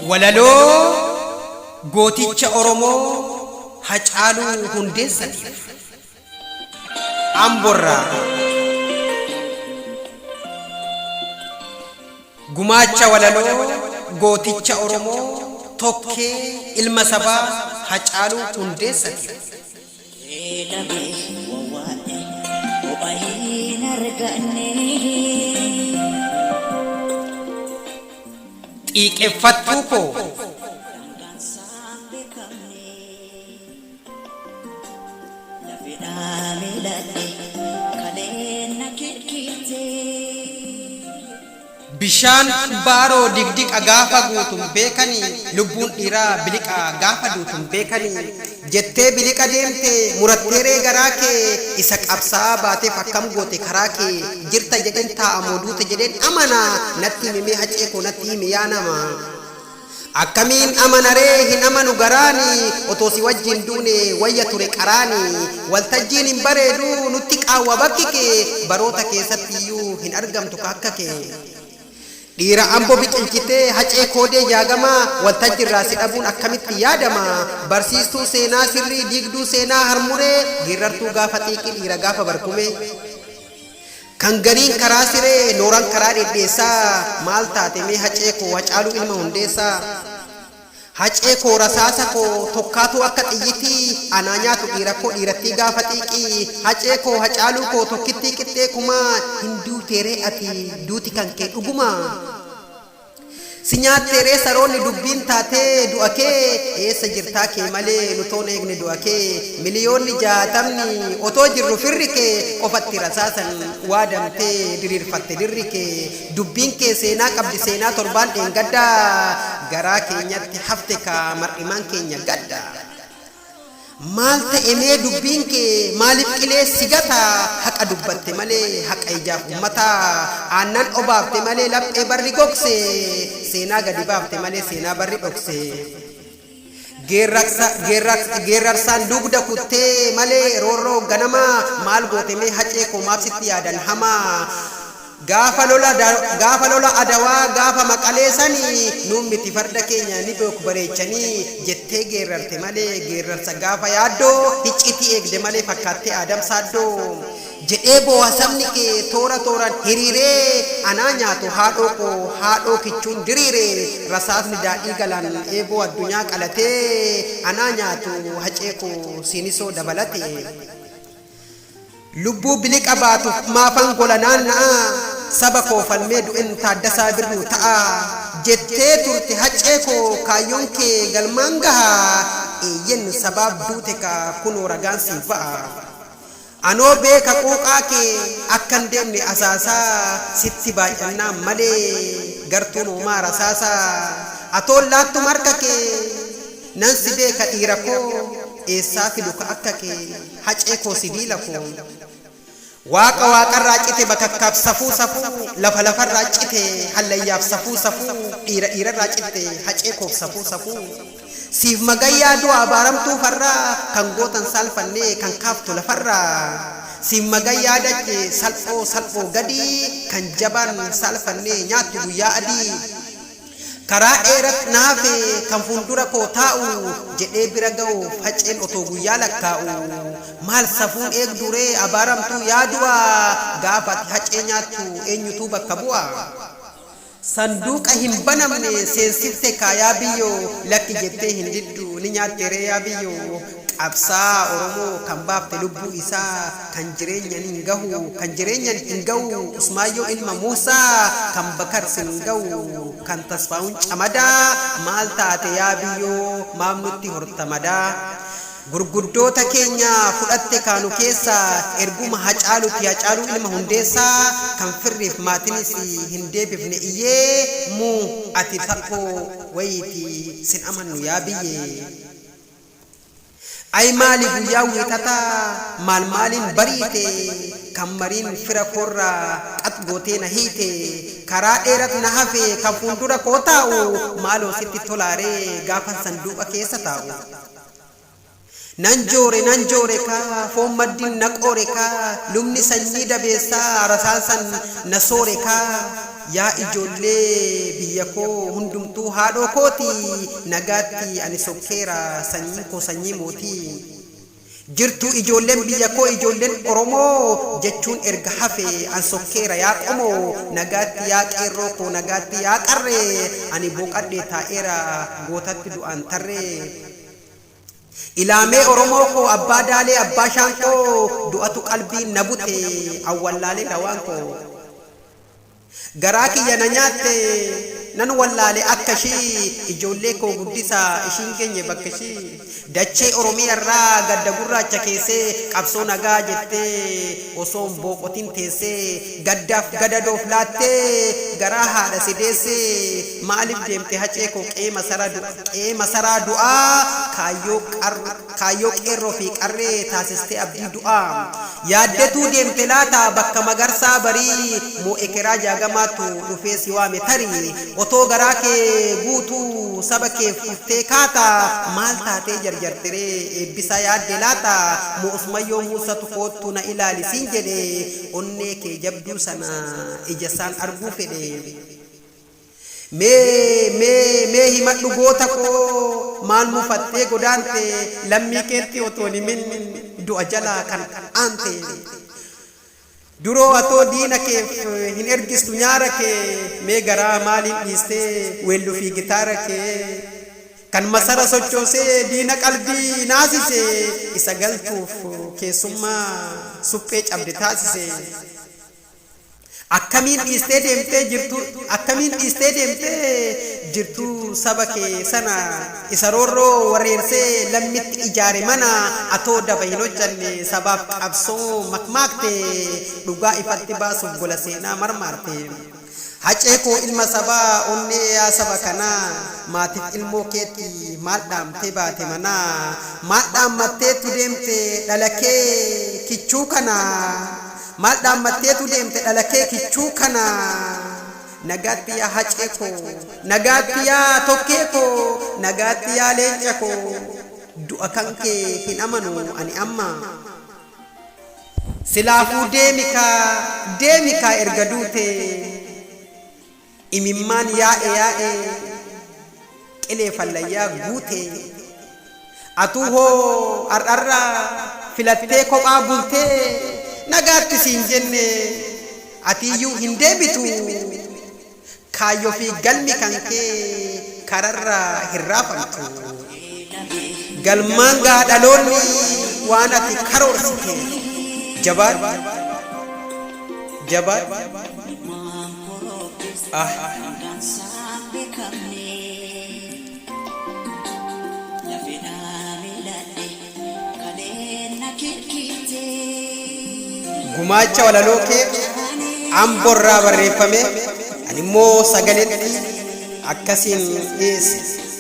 Walaloo Gooticha Oromoo Hacaaluu Hundeessatiif. Amborraa Gumaacha walaloo gooticha Oromoo tokkee ilma sabaa Hacaaluu Hundeessatiif. Beelame wawwaadhe bu'a hin arganne. Xiiqeffattuu koo! Daangaan saan beekamne. Lafedhaa miilatte kaleen na kirkirtee. Bishaan baaroo digdiqa gaafa guutu hin beekani lubbuun dhiiraa biliqa gaafa duutu hin beekani jettee biliqa deemte murattee ree garaa kee isa qabsaa'aa baateef akkam goote karaa kee jirta jedheen taa'a moo duute jedheen amana natti himi mee hacee koo natti himi yaa nama Akkamiin amana ree hin amanu garaani otoo si wajjin duune wayya ture qaraani waltajjiin hin bareedu nutti qaawwa bakki kee baroota keessatti iyyuu hin argamtu ka akka kee Dhiira Ambo biqilchitee Hacee Koodee Jaagamaa waltajjirraa si dhabuun akkamitti yaadama Barsiistuu seenaa sirrii diigduu seenaa harmuree Geerrartuu gaafa xiiqii dhiira gaafa barkumee. Kan gariin karaa siree nooran karaa dhedheessaa Maal taate mee hacee koo hacaaluu ilma hundeessaa Hacee koo rasaasa koo tokkaatuu akka xiyyitii Anaa nyaatu dhiira koo dhiirattii gaafa xiiqii Hacee koo hacaaluu koo tokkittii qixxee kumaa Hin duuteeree ati duuti kan kee dhugumaa? Si nyaattee ree saroonni dubbiin taatee du'a kee Eessa jirtaa kee malee nu toon eegne du'a kee Miliyoonni jaatamni otoo jirru firri kee Qofatti rasaasan waadamtee diriirfatte dirri kee Dubbiin kee seenaa qabdi seenaa torbaan dheengaddaa Garaa keenyatti hafte kaa mar'imaan keenya gadda Maal ta'e mee dubbiin kee maaliif qilee si gata haqa dubbatte malee haqa ijaaf ummata aannan obaafte malee laphee barri gogse seenaa gadi baafte malee seenaa barri dhokse geerraksa geerraksa geerrarsaan dugda kutte malee roorroo ganamaa maal goote mee hacee koo maaf sitti yaadan hamaa Gaafa lola gaafa lola adawaa gaafa maqalee sani nuun miti farda keenya ni beeku bareechanii jettee geerrarte malee geerrarsa gaafa yaaddoo hicciitii eegde malee fakkaattee aadam saaddoo jedhee booha sabni kee toora tooraan hiriiree anaa nyaatu haadhoo koo haadhoo kichuun diriire rasaasni daadhii galaan eeboo addunyaa qalatee anaa nyaatu hacee koo siinisoo dabalate. Lubbuu biliqa baatuf maafan gola naanna'a Saba koo falmee du'en Taaddasaa Birruu ta'a Jettee turte Haccee koo kaayyoon kee galmaan gaha Eeyyen sabaaf duute kaa kunoo ragaan siif ba'a Anoo beeka quuqaa kee akkan deemne asaasa Sitti baay'annaan malee gartuun hoomaa rasaasa Atoon laattum harka kee Nan si beeka dhiira koo Eessaa fidu ka akka kee Hacee koo sibiila koo Waaqa waaqarraa cite bakakkaaf safuu safuu lafa lafarraa cite hallayyaaf safuu safuu dhiira dhiirarraa citte hacee koof safuu safuu siif magayyaa du'a abaaramtuu farraa kan gootan saalfannee kan kaaftu lafarraa siif magayyaa dache salphoo salphoo gadii kan jabaan saalfannee nyaattu guyyaa adii Karaa dheerat na hafe kan fuuldura koo taa'u jedhee bira ga'uuf haceen otoo guyyaa lakkaa'u maal safuun eegduu ree abaaramtuu yaa du'a gaafa ati hacee nyaattu eenyutuu bakka bu'a? Sanduuqa hin banamne seensifte kaa yaa biyyoo lakki jettee hin diddu ni nyaatte ree yaa biyyoo? Qabsaa'aa Oromoo kan baafte lubbuu isaa kan jireenyan hin gahu kan jireenyan hin gahu Usmaayyoo ilma Muusaa kan Bakar sin hin gahu kan Tasfaahun Camadaa maal taate yaa biyyoo maaf nutti horta madaa Gurguddoota keenya fudhatte kaa nu keessa erguma Hacaaluti Hacaaluu ilma Hundeessaa kan firriif maatinis hin deebifne iyyee mu ati Saphoo wayiiti sin amannu yaa biyyee. Ayi maali guyyaa wiixataa maal maaliin bariite kan mariin fira koorra xax gootee na hiite karaa dheerat na hafe kan fuuldura koo taa'u maaloo sitti tolaaree gaafan sanduuqa keessa taa'u Nan joore nan joore kaa foon maddin na qoore kaa lubni sanyii dabeessaa rasaasan na soore kaa Yaa ijoollee biyya koo hundumtuu haadhoo kooti nagaatti ani sokkeera sanyiin koo sanyii mootii Jirtuu ijoolleen biyya koo ijoolleen oromoo jechuun erga hafe an sokkeera yaa qomoo nagaatti yaa qeerroo koo nagaatti yaa qarree ani booqadhee taa'eera gootatti du'aan tarree Ilaamee oromoo koo abbaa daalee abbaa shaanqoo du'atu qalbiin na bute an wallaaleera waan koo. Garaa kiyya na nyaatte Nan wallaale akka ishii Ijoollee koo guddisa Ishiin geenye bakka ishii Dachee Oromiyaarraa Gadda gurraacha keessee Qabsoo nagaa jettee Osoon booqotin teessee Gaddaaf gadadoof laattee Garaa haadha si deessee Maaliif deemte Hacee koo Qe'ee masaraa du'aa Kaayyoo qarroo Kaayyoo Qeerroo fi Qarree taasistee Abdii du'aa Yaaddetuu deemte laata Bakka Magarsaa Barii moo Ekeraa Jaagamaatu dhufee si waame Tarii otoo garaa kee guutuu Saba keef kuftee kaata Maal taatee jarjarte ree Eebbisaa yaadde laata Moo Usmayyoo Muussatu koottu na ilaali siin jedhe Onnee kee jabduu sana ija isaan arguu fedhe. Mee mee mee himadhu goota koo maal mufattee godaante lammii keetti otoo hin himin du'a jalaa kan aante Duroo atoo diina keef hin ergistu nyaara kee mee garaa maaliin dhiistee weellu fi gitaara kee Kan masara sochoosee diina qalbii naasise isa galtuuf keessummaa suphee cabde taasise. Akkamiin dhiistee deemtee jirtuu Akkamiin dhiistee deemtee jirtuu Saba kee sana Isa roorroo wareersee Lammitti ijaare mana Atoo daba hin hojjanne Sabaaf qabsoo makmaakte Dhugaa ifatti baasuuf Gola seenaa marmaarte Hacee koo ilma sabaa Onnee yaa saba kanaa Maatiif ilmoo keetti Maal dhaamtee baate manaa Maal dhaammatteetu deemte Dhala kee kichuu kana Maal dhaammatteetu deemte dhala kee kichuu kana Nagaatti yaa hacee koo Nagaatti yaa tokkee koo Nagaatti yaa leenca koo Du'a kan kee hin amanu ani amma Silaafuu deemi kaa deemi kaa erga duutee Imimmaan yaa'e yaa'e qilee fallayyaa guute Atuu hoo har'arra filattee kophaa bulte Nagaatti siin jenne atiiyyuu hin deebitu Kaayyoo fi galmi kankee kararra hin raafamtu. Galmaan gaha dhaloonni waan ati karoorsiteef. Jabaadhu! Jabaadhu! Gumaacha walaloo kee Ambo irraa barreeffame animmoo sagaleetti akkasiin dhiyeesse.